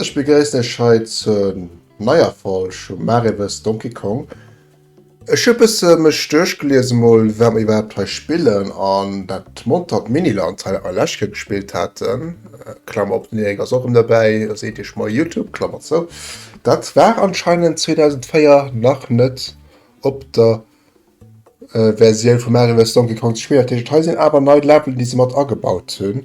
Ech begréissen Iech hei zur neier Folg vum Maariwes Donkey Kong. Ech hu bësse mech duerchgelies emol wat mer iwwerhaapt hei spillen an dat montert Miniland hei a Lechke gespillt haten, Klammer op, den Erik ass och rëm derbäi, seet Iech moi YouTube, Klammer zou, dat war anscheinend 2004 nach net op der Versioun vu Mario vs Donkey Kong ze spillen, dat heescht hei sinn awer nei Leveln déi se mat agebaut hunn.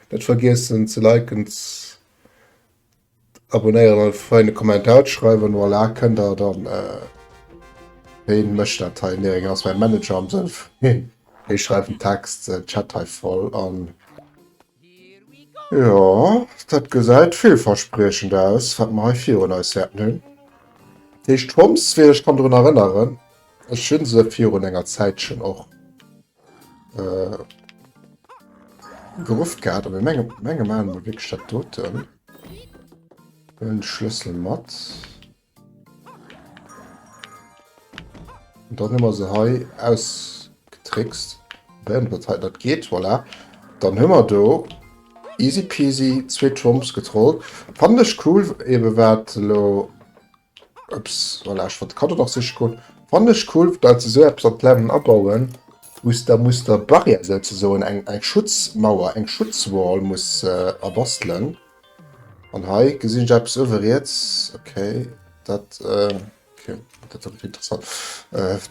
Net vergiessen ze liken, z'abonnéieren an e feine Kommentar ze schreiwen. Voilà, kënnt der dann. Ween mécht dat hei? Mehring ass mäi Manager am Sënn vun hien. Hie schreift den Text, den Chat hei voll an. Jo, dat gesäit villverspriechend aus, wat mer hei virun eis hätten hunn. Déi Schtroumpfs, wéi ech kann drun erënneren, ech hu se virun enger Zäitchen och. Äh, gerufft gehabt, aber menge menge man mo wéck statt doten en schlüssel mat und dann immer se hei ausgetrickst wenn wat he dat geht voilà dann hummer do easy peasy zwee trumps getrollt fand ech cool eben wat lo Ups, voilà, ech wollt de Cadeau nach siche goen. Fannen ech cool, daat se esou eppes an d'Level abauen, wous der muss der Barrière souzesoen, eng eng Schutzmauer, eng Schutzwall muss erbastelen. An hei gesin ech eppes uewe riets, okay, daat okay, daat fannen ech interessant.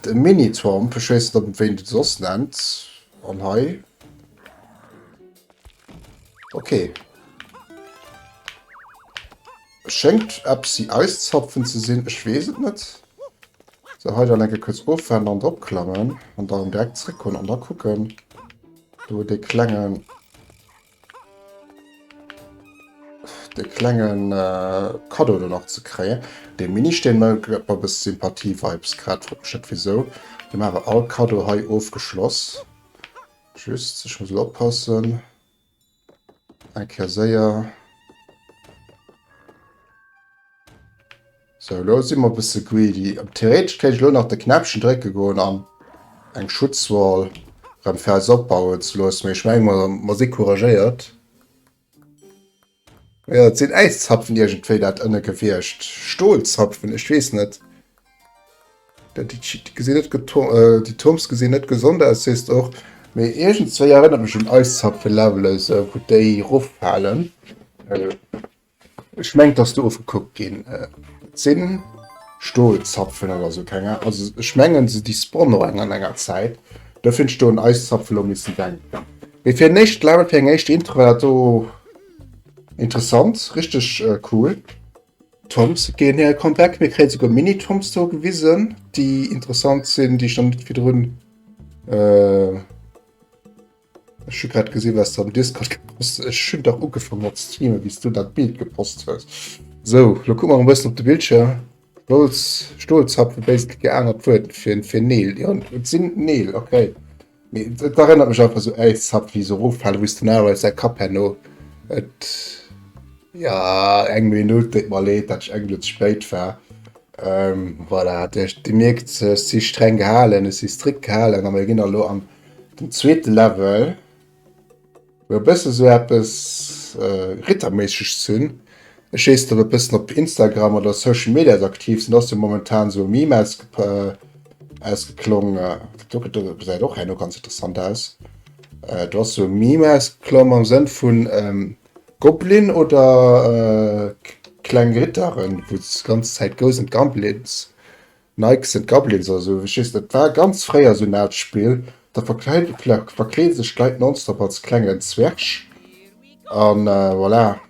E Mini-Swamp, ech wees net op wéi een den soss nennt. An hei, okay. Schéngt eppsi Eiszapfen ze sinn, ech weess et net. Sou, hei dann eng Kéier kuerz ofwaarmen an drop klammen an dann direkt zréck kommen an da kucken. Do huet dee klengen, dee klenge Kaddo do nach ze kréien. Dee Ministeen do gëtt mer e bësse Sympathie-Vibes grad, frot mech net wisou. Dee maache mer all Kaddo hei ofgeschloss. Just, ech muss elo oppassen. Eng Kéier séier. Sou, lo si mer e bësse greedy. Theoretesch kéint ech lo nach de Knäppchen drécke goen an eng Schutzwall erëm fir eis opbauen ze loossen, mee ech menge mer, mer si couragéiert. Jo, et sinn Äiszapfen iergendwéi dat ënne Gewiecht. Stolzapfen? Ech weess net. Déi Toms gesinn net gesond aus, sees de och, mee iergendzwéi erënnert mech un eis Subway Levels, wou déi roffalen. Ech mengt dass do ofgekuckt ginn sinn Stolzapfen oder sou keng Ahnung, also ech mengen se déi spawnen och eng an enger Zäit, do fir ech do un eis Zapfen elo missen denken. Mee fir en éischt Level, fir eng éischt Intro war dat do interessant, richteg cool. Toms gin hir Account weg, mir kréien souguer Mini Toms do gewisen déi interessant sin, déi ech nach net virdrun euh ech hun grad gesin was de am Discord gepost hues, ech hun dach ugefangen mat streamen wéis du dat Bild gepost hues, sou lo kuck mer emol bessen op de Bildschirm, Stolzapfen, basically geaanert Wuert fir Neel, jo et sin Neel, ok. Mee et erënnert mech einfach sou äis Sub wéi sou eroffalen wou s den Aragorn säi Kapp herno et ja eng Minutt déit mer leed dat ech eng Minutt ze spéit war ehm voilà Dir mierkt ech si streng gehalen ech si strikt gehalen a mir ginn elo an den zweete Level. Fir e bësse sou eppes Ritterméisseg ze hunn, ech weess de e bëssen op Instagram oder Social Medias aktiv sinn, ass jo momentan sou e Meme ausgeklong, do gëtt e, gesäit och herno ganz interessant aus, do ass sou e Meme ausgeklomm am Sënn vun Goblin oder kleng Ritteren, wou d'ganz Zäit Ghosts and Goblins Knights and Goblins oder sou, ech weess net, war ganz fréier sou en aalt Spill, da verkleede sech d'Leit nonstop als klengen Zwerg a voilà.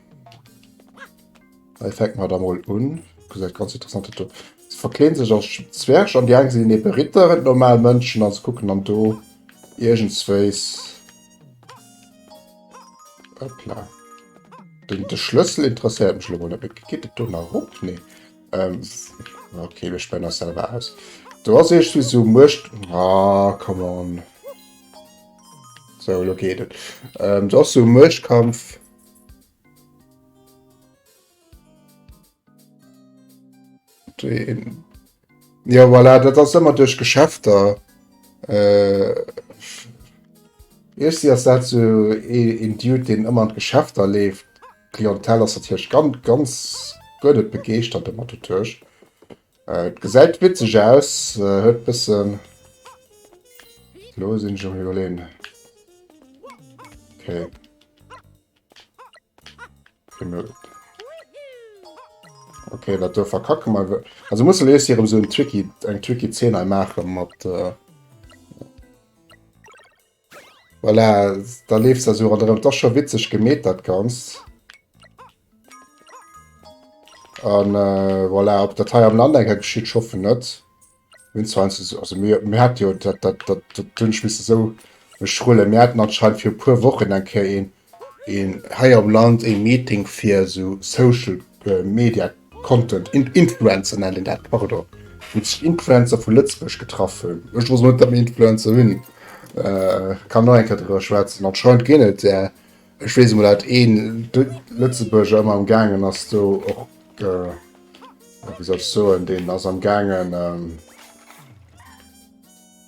Hei fänke mer da mol un, gesäit ganz interessant do, se verkleede sech als Zwerg an déi eng sinn ebe Ritter an normal Mënschen a se kucken dann do iergendswéis, hop la, de Schlëssel interesséiert mech elo mol net méi, geet et do nach erop? Nee. Ähm, okay, wir spenden das selber aus. Du hast echt wie so Murcht. Ah, come on. So, lo geht es. Ähm, du hast so Murchtkampf. Den. Ja, voilà, das ist immer durch Geschäfte. Äh, ich sehe das so in Dude, den immer in Geschäfte lebt. D'Clientèle ass natierlech ganz guer net begeeschtert domat, de Tuerg gesäit witzeg aus, huet e bëssen, elo sinn ech am iwwerleeën, okay, okay dat do verkacke mer ewell, also musse mir eis hei erëm esou en tricky, eng tricky Zeen hei maache mat. Voilà, da leeft se esou ronderëm. Et ass scho witzeg gemeet, dat Ganzt. An voilà, ob dat hei am Land eng Kéier geschitt, ech hoffen net. Mir hunn zwar eins, also mir, mir haten jo dat, dat, dat, dat hunn ech missen esou schrullen, mir haten anscheinend vir e puer Wochen eng Kéier een, een hei am Land ee Meeting fir esou Social Media Content Influencer nennt een dat pardon, wou sech Influencer vu Lëtzebuerg getraff hunn. Ech muss net am Influencer hunn, kann och eng Kéier driwwer schwätzen. Anscheinend ginn et där, ech weess emol dat een Lëtzebuerger ëmmer am gaangen ass do och, wéi soll ech soen, deen ass am gaangen,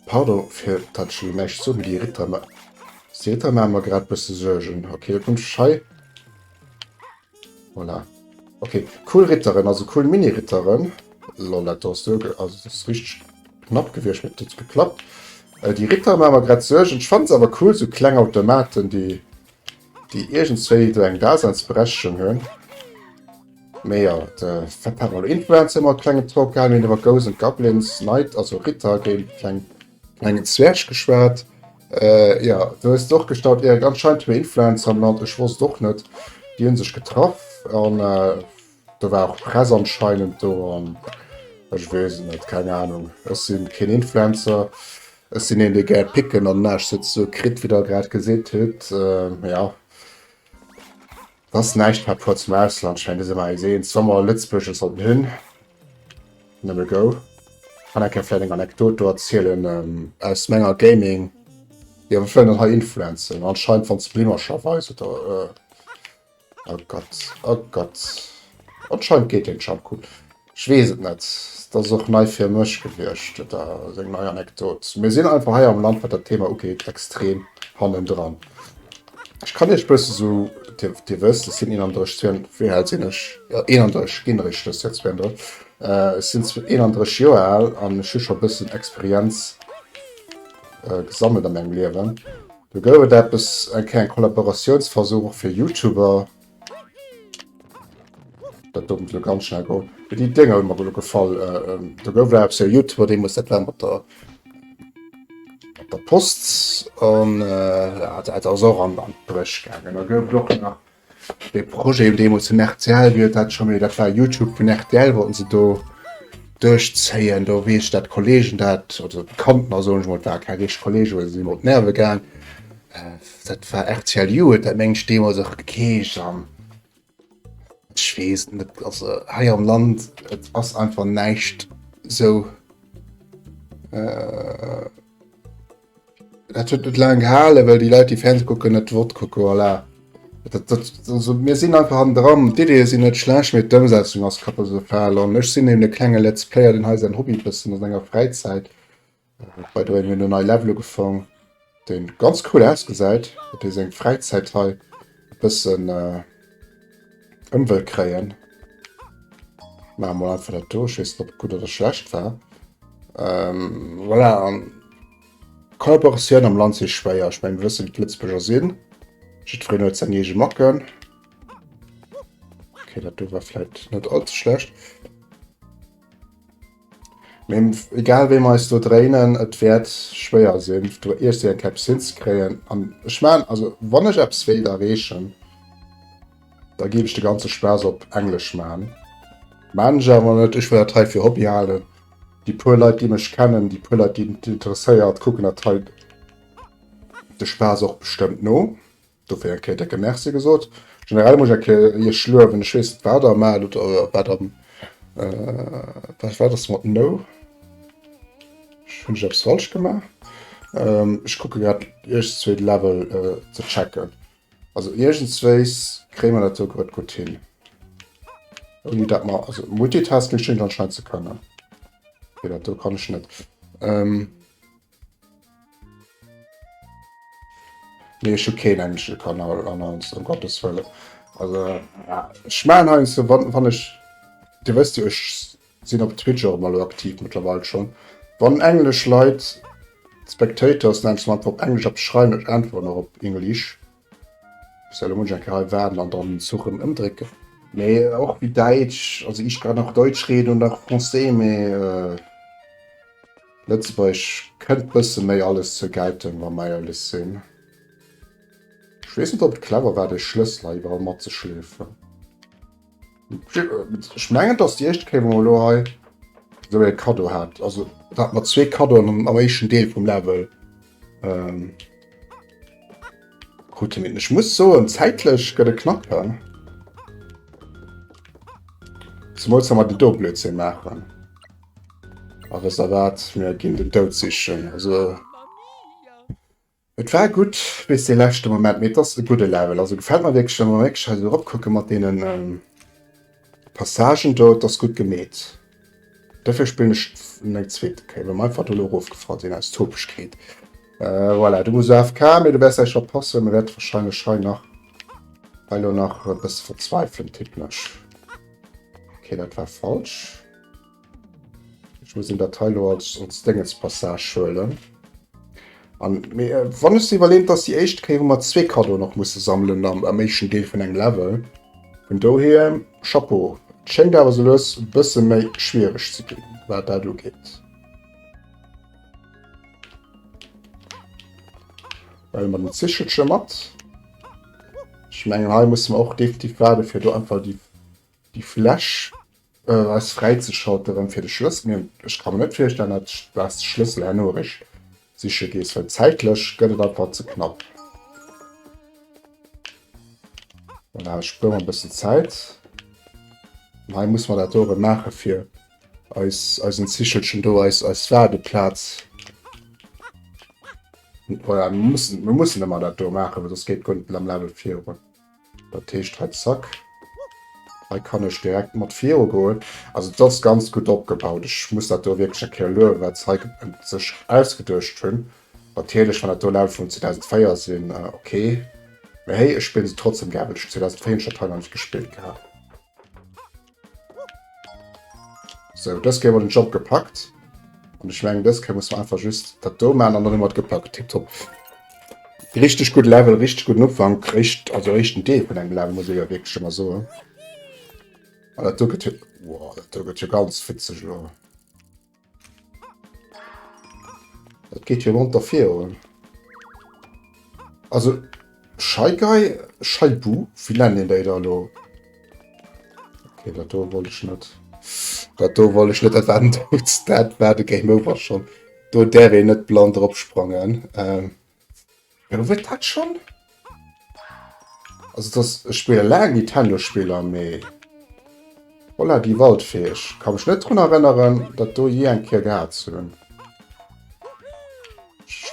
Pardon fir dat ech elo näischt soen, mee déi Ritter ma déi Ritter maache mer grad bësse Suergen. Ok, da komme ech hei. Voilà. Ok, cool Ritteren, also cool Mini-Ritteren. Lol, dat do ass do, also dat ass richteg knapp gewiescht, mee et huet geklappt. Déi Ritter maache mer grad Suergen. Ech fannen se awer cool, sou kleng Automaten, déi déi iergendswéi do eng Daseinsberechtegung hunn. Mee jo, de Fett hat mol Influencer mat klengem Talk gehalen, mir hunn iwwer Ghosts and Goblins, Knight, also Ritter géint kleng klengen Zwerg geschwat. Äh, jo, do hues de och gestaunt, Erik, anscheinend hu mir Influencer am Land, ech wosst och net, déi hunn sech getraff an äh, Do war och Press anscheinend do an ech weess et net, keng Ahnung. Ech sinn keen Influencer, ech sinn een dee gär picken an näischt sou kritt wéi der grad geseet hutt. Mee ja et ass näischt par rapport zum Ausland, schéngt et ëmmer eis eens wa mer Lëtzebuerg et sollten hunn. Nëmme go. Kann eng Kéier vläit eng Anekdot do erzielen aus menger Gaming, jo ech wëll net hei influencen, anscheinend wann d'Spliemercher weisen oder. A Gott, a Gott. Anscheinend geet deen Shampoing. Ech weess et net. Et ass och nei fir mech gewiescht, da seng nei Anekdot. Mir sinn einfach hei am Land, wat dat Thema ugeet, extrem hannendran. Ech kann Iech bësse sou, Dir, Dir wësst, ech sinn 31, 32, wéi al sinn ech? Jo, 31, ginn eréischt dëst Joer 32. Ech sinn 31 Joer al an ech hu scho bëssen Experienz gesammelt a mengem Liewen. Do gouf et eppes, eng kleng Kollaboratiounsversuch och fir Youtuber. Dat do muss elo ganz schnell goen. Mee déi Dénger hu mer elo gefall. Do gouf eppes, jo, Youtuber, dee muss dat war mat der, mat der Post. An dat ass och an d'Bréch gaangen. Da gouf et och nach De Projet deemools vun rtl, wéi huet dat scho méi, dat war Youtube vun rtl, wollten se do duerchzéien. Do weess ech, dat Kolleegen dat, oder Bekanntner soen ech mol, et ware keng richteg Kolleegen, well se sinn mer op d'Nerve gaang, dat war rtl You huet dat meng ech deemools och gekeescht an ech weess et net. Also hei am Land, et ass einfach näischt esou. Dat huet net laang gehalen, well déi Leit, déi Fernseh kucken, net Wort kucken. Voilà. Dat, dat, also, mir sinn einfach an dran. D'Ideeë sinn net schlecht, mee d'Ëmsetzung ass katastrophal. An ech sinn eben e klenge Let's Player, deen hei säin Hobby e bëssen a senger Fräizäit bei der mir no nei Level ugefang, deen ganz cool ausgesäit, fir seng Fräizäit hei. E bëssen Ëmwëll kréien. Maache mol einfach dat do. Ech weess net, ob et gutt oder schlecht war. Voilà. Kollaboratioun am Land si schwéier. Ech meng, mir wëssen, wéi d'Lëtzebuerger sinn. Jiddwereen huet seng eege Macken. Okay, dat do war vläicht net all ze schlecht. Mee egal wéi mer eis do dréinen, et wäert schwéier sinn, do iergst eng Käpp hinzekréien. An ech man, also wann ech eppes wéilt erreechen, da géif ech de ganze Spaass op Englesch man. Man ech awer net, ech wëll dat hei fir Hobby halen. Déi puer Leit, déi mech kennen, déi puer Leit, déi et interesséiert, kucken dat hei de Spaass och bestëmmt no. Dofir eng Kéier decke Merci gesot. Generell muss ech eng Kéier Iech luewen. Ech weess net, wat Der maacht oder wat am, vläicht war dass mat No. Hunn ech eppes falsch gemaach? Ech kucke grad, iergenszwee de Level ze checken. Also iergendswéis kréie mer dat esou grad gutt hin, ouni dat mer, also Multitasking schéngt anscheinend ze kënnen. Okay, dat do kann ech net. Nee, ech hu keen englische Kanal an ons um Gottes Wëlle. Also ja, ech machen ha so wann, wann ech Dir wësst jo ech sinn op Twitch och mal aktiv mittlerweile schon. Wann englesch Leit Spectators nennt, sollten se op englesch eppes schreiwen, ech äntweren och op English. Solo Munch eng Kéier hei waarden an dann den Zuch rëm ëmdrécken. Mee och wéi Däitsch, also ich kann auch Deutsch reden und auch Français, mee Lëtzebuergesch kënnt bësse méi alles zur Geltung, wa mer éierlech sinn. Ech weess net, ob et clever war, dee Schlëssel hei iwwerall matzeschleefen. Ech mengen dats déi éischt Kéier wou mer elo hei esou ee Kaddo hat, also do hate mer zwee Kaddoen am am éischten Deel vum Level ähm krute mir. Ech muss soen, zäitlech gëtt e knapp, he? Zemools wa mer den do Blödsinn maachen a wësst der wat, mir ginn den Doud sichen, also. Et war gudd bis dee leschte Moment, mee et ass e gudde Level, also gefällt mer wierklech. Wann mer wierklech hei esou rop kucken mat deenen Passagen do, et ass gudd gemeet. Dofir spillen ech en eng zweete Kéier, well mer einfach do elo erof gefall sinn aus Topegkeet. Voilà, du muss elo AFK, mee du wärs gläich verpassen, mer wärt wahrscheinlech hei nach hei elo nach e bësse verzweifeln, tippen ech. Ok, dat war falsch. Ech muss en dat hei lo als als Déngens Passage huelen. An mee äh, wann ech se iwwerleem, dass déi éischt Kéier hu mer zwee Kaddoen och musse sammelen am, am éischten Deel vun engem Level. Vun dohier Chapeau. Et schéngt awer sou lues e bësse méi schwiereg ze ginn, wat dat ugeet. Huele mer den Zichelche mat. Ech mengen, hei musse mer och definitiv waarde fir do einfach déi Déi Fläch ass fräizeschalteren fir de Schlëssel. Mee ech ka mer net virstellen, dat s de Schlëssel herno erech siche gees, well zäitlech gëtt et einfach ze knapp. Voilà, ech spuere mer e bëssen Zäit. An hei muss mer dat do erëm maache fir eis eisen Zichelchen do, eis eis Waardeplaz. Voilà, mir mussen, mir mussen ëmmer dat do maachen, well soss geet guer net mat am Level virun. Dat heescht hei zack. Hei kann ech direkt mat viru goen. Also et ass ganz gutt opgebaut. Ech muss dat do wierklech eng Kéier luewen, wat se hei sech ausgeduecht hunn. Natierlech, wann dat do Levele vun 2004 sinn, okay. Mee hey, ech spillen se trotzdeem gär, well ech 2004 hunn ech dat hei nach net gespillt gehat. So, das gehen wir den Job gepackt. Und ich meine, das können wir einfach just das da machen und dann haben wir gepackt. Tipptopp. Richtig gut Level, richtig guten Anfang. Richtig, also richtig Deal von einem Level, muss ich ja wirklich schon mal sagen. Aber das da geht ja, wow, das da geht ja ganz witzig, Leute. Dat geet jo monter virun. Also Scheigei, Scheibu, wie nennen den déi da lo? Okay, dat do wollt ich net. Dat do wollt ich net dat waren dat war de Game Over schon. Do däer een net blann drop sprangen. Ähm, Gouwet dat schon? Also das ech spille laang Nintendo Spiller mee Holla die Waldfee ech ka mech net drun erënneren dat do jee eng Kéier gehat ze hunn.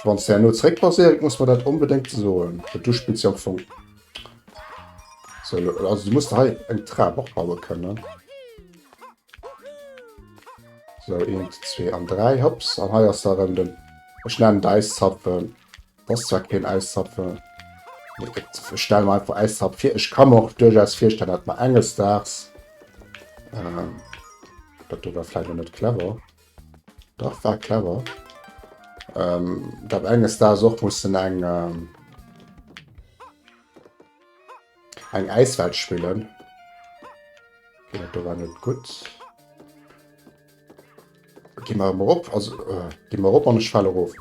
Wanns de herno zréck paséiert muss mer dat onbedéngt soen. Well du spills jo am Fong sou. Also du muss der hei eng Trap och baue kënnen. So, 1, 2 an 3, hops. An hei ass da rëm den, ech nennen et Äiszapfen. Dat ass zwar keen Äiszapfen. Ech stelle mir einfach Äiszapf vir. Ech ka mir och duerchaus virstellen, dat mer enges Daags, ähm, dat do war vläicht net clever. Dach war clever. Ähm, dat enges Daags och mussen eng, ähm, Eng Äiswelt spillen. Okay, dat do war net gutt. Gi mer emol op. Also, äh, gi mer op an ech fale erof.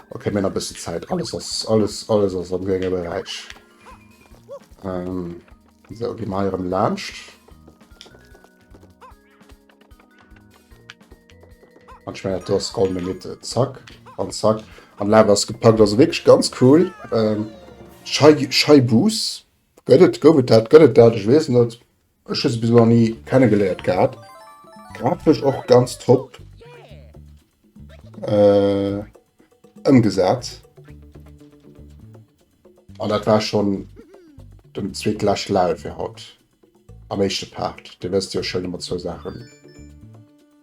Okay, mir hunn e bëssen Zäit. Alles ass, alles, alles ass am grénge Beräich. Ähm, esou, gi mer hei erëm laanscht. An ich meine, du hast all Minute. Zack. An zack. An Lab hast gepackt. Also wirklich ganz cool. Ähm, Scheibus. Gött et, gouf et dat, gött et dat, ich weiß nicht. Ich habe bis noch nie kennengelernt gehabt. Grafisch auch ganz top. Äh, umgesetzt. Und das war schon den zweiten Live für heute. Am éischte Part, do wësst Dir jo schon ëmmer zwou Saachen.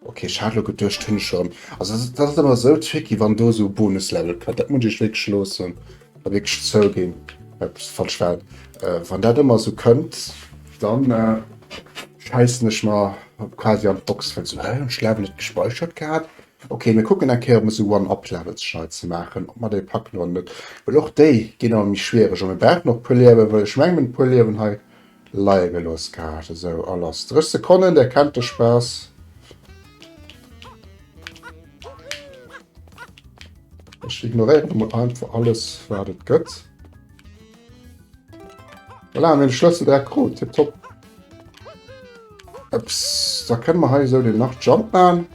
Ok, ech hat elo geduecht, hunn ech erëm. Also dat ass ëmmer esou tricky, wann do esou Bonuslevel kënnt. Dat muss ech wierklech loossen a wierklech zouginn, dat fand ech well, wann dat ëmmer esou kënnt, dann schäissen ech mer quasi an d'Box, well esou, Hä, hunn ech Level net gespeichert gehat? Ok, mir kucken eng Kéier, ob mir esou One-Up-Levels schnell ze maachen, ob mer déi packen oder net, well och déi ginn ëmmer méi schwiereg. A mir brauchen och e puer Liewen, well ech mengen, mat e puer Liewen hei Leie gelooss gehat. Esou, a lass 30 Sekonnen, Dir kennt de Spaass. Ech ignoréieren emol einfach alles, wat et gëtt. Voilà, mir de Schlëssel direkt krut. Tipptopp. Ups, da kënne mer hei esou den nach Jump man.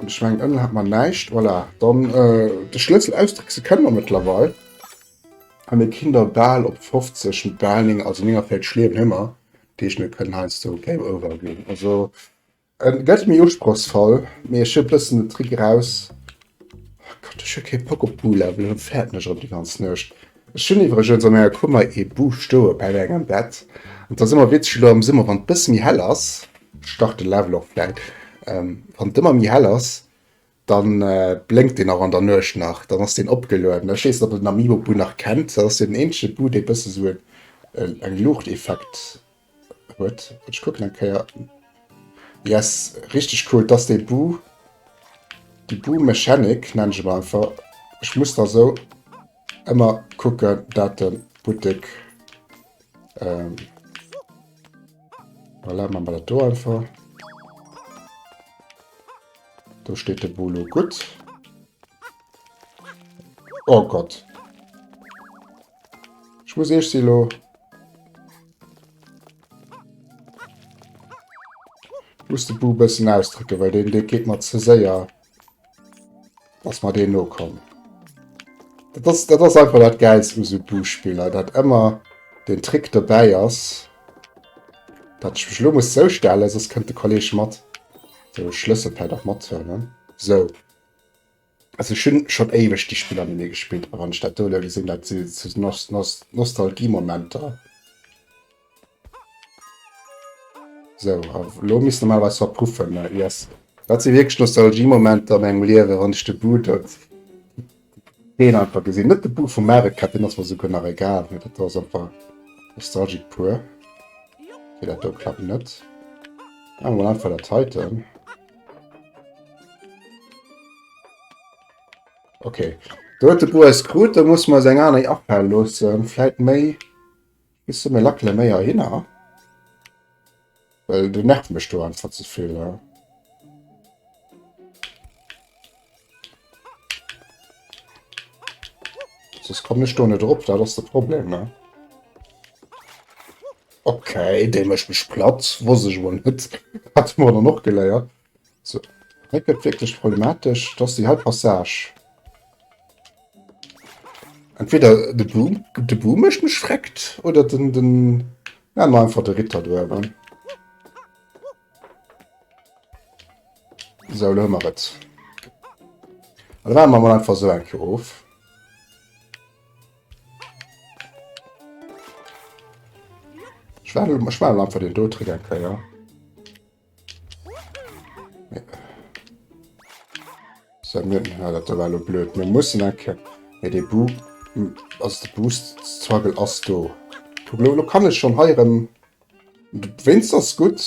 Und ich meine, Ömmel hat man näischt. Voilà, dann äh, de Schlëssel ausdrickse kënne mer mëttlerweil. An e kinn der bal op 50, bal 9, also 49 Schlieren hu mer, dat heescht mir kënnen heiansdo Game Over ginn. Also en gëtt méi usprochsvoll, mee ech hu e bëssen den Trick eraus. Oh Gott, ech hu kee Bock op Bulevel, elo fäert mech erëm déi ganz Nuecht. Ech hunn iwwregens an menger Kummer ee Bu stoe bei mengem Bett an et ass ëmmer witzeg, elo am Summer wann et e bësse méi hell ass, ech start de Level och vläit wann et ëmmer méi hell ass, Dann blénkt deen och an der Nuecht nach. Dann ass deen opgelueden. Ech weess net, ob der den Amiibo Bu nach kennt. Dat ass jo den eenzege Bu, dee bësse sou en Luuchteffekt huet. Ech kucken eng Kéier. Yes, richteg cool. Dat ass dee Bu, déi Bu-Mechanik nennen ech et mol einfach. Ech muss da sou ëmmer kucken, dat de Buttek, voilà, maache mer dat do einfach. Do steet de Bolo gutt. Oh Gott. Ich muss eech silo. Muss de Bu bëssen ausdrücken, well den de geet mat ze séier. Ass mat deen no kommen. Dat ass, dat ass einfach dat Gäils u so Buspiller, dat ëmmer den Trick dobäi ass. Dat ich mech lo muss zoustellen, sos kënnt de Kolleg mat. De Schlëssel vläit och mathuelen. Sou, also ech hunn schonn éiweg déi Spiller net méi gespillt, a wann ech dat do elo gesinn, dat si sou Nostalgiemomenter. Sou, a elo misst normalerweis verpuffen. Yes, dat si wierklech Nostalgiemomenter a mengem Liewen, wann ech de Boot. Deen einfach gesinn net de Buch vum Mario Kart, deen ass mer souguer nach egal, mee dat do ass einfach nostalgic pur. Okay, dat do klappt net. Machen wir mal einfach das heute. Okay. Da huet de Bo eis krut, da muss mer seng aner Afal loossen. Vläit méi. Bisse méi lackele méi ahinner. Well du nervt mech do einfach ze vill. Ja. Sos komm ech do net drop, dat ass de Problem, ne? Okay, dee mécht mech platt. Wosst ech wuel net. Hat de Moler och geléiert. So, hei gëtt wierklech problematesch. Et ass déi hei Passage. Entweder de Boom, de Boom mécht mech vreckt, oder den, den, ja, mach einfach de Ritter do awer. So, lo mer et. Da waren wir mal einfach so enke of. Ich war, ich war einfach den Dotrick enke, ja. So, mir, ja, dat war lo blöd. Mir mussen eng Kéier. Mee dee Bu, also de Boost-Struggle ass do. Kuck, lo, lo kann ech schonn hei erëm. Wéinst ass gutt,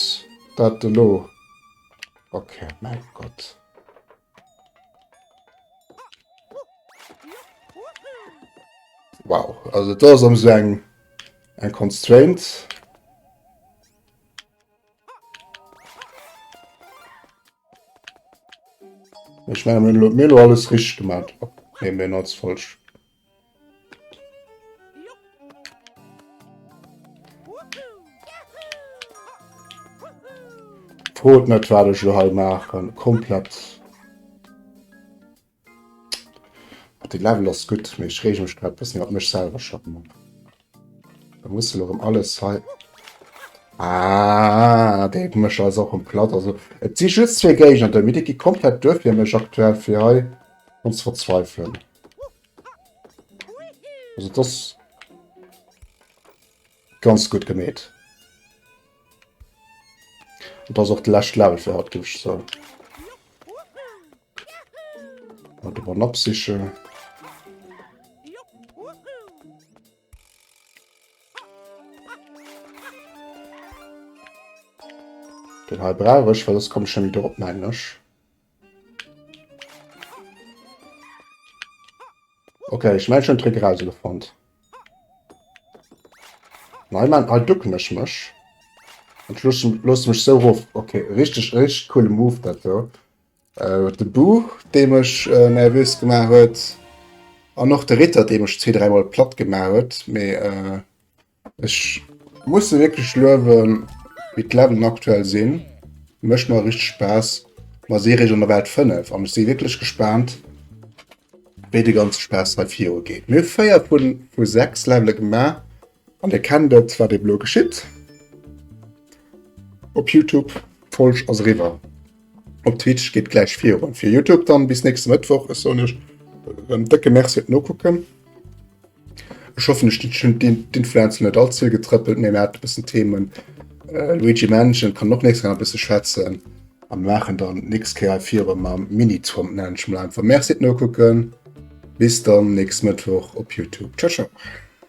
dat de lo. Okay, mäi Gott. Wow, also do ass ëm seng eng Constraint. Ich meine, mir lo- mir lo alles richtig gemacht. Ab. Nee, mir als falsch. Frot net wat ich lo hei machen. Komplett. Den Level ass gudd, mee ech reege mech grad bessen iwwert mech selwer schonn op. Da muss elo rem alles hei. Aah, dee mech ass och rem platt. Also et si just zwee Géigner do, mee déi gi komplett duer fir mech aktuell fir hei rem ze verzweifelen. Also et ass ganz gudd gemeet. Et ass och de lescht Level fir haut, ginn ech zou. Wat op an absiche. Den hei brauch ech, well ass komme schon wieder op mengen ech. Okay, ich mein schon Trick rausgefund. Nein, man, halt ducken ich mich. Und schluss, lass mich so ruf. Okay, richtig, richtig coole Move dazu. De Bu, dee mech nervös gemaach huet. An och de Ritter, dee mech zwee, dräimol platt gemaach huet. Mee äh, ech muss se wirklich luewen, wéi d'Leveln aktuell sinn. Mëscht mer richtig Spaß. Ma si regeln der Welt 5 an ech si wirklich gespannt, wéi de ganze Spaß hei viru geet. Mir hu 4 vu 6 Levele gemaach. An dir kennt et, wat eben elo geschitt op Youtube, d'Folg ass eriwwer. Op Twitch geet gläich virun. Fir Youtube dann bis nächste Mëttwoch. Ech soen iech en décke Merci op d'Nokucken. Ech hoffen ech hunn d'Influencer net all ze vill getrëppelt, mee mir haten e bëssen Themen. Luigi Mansion kann och nächst Kéier e bësse schwätzen a mir maachen dann d'nächst Kéier virun mam Mini-Trump, nennen ech emol einfach. Merci d'Nokucken, bis dann nächst Mëttwoch op Youtube. Ciao ciao.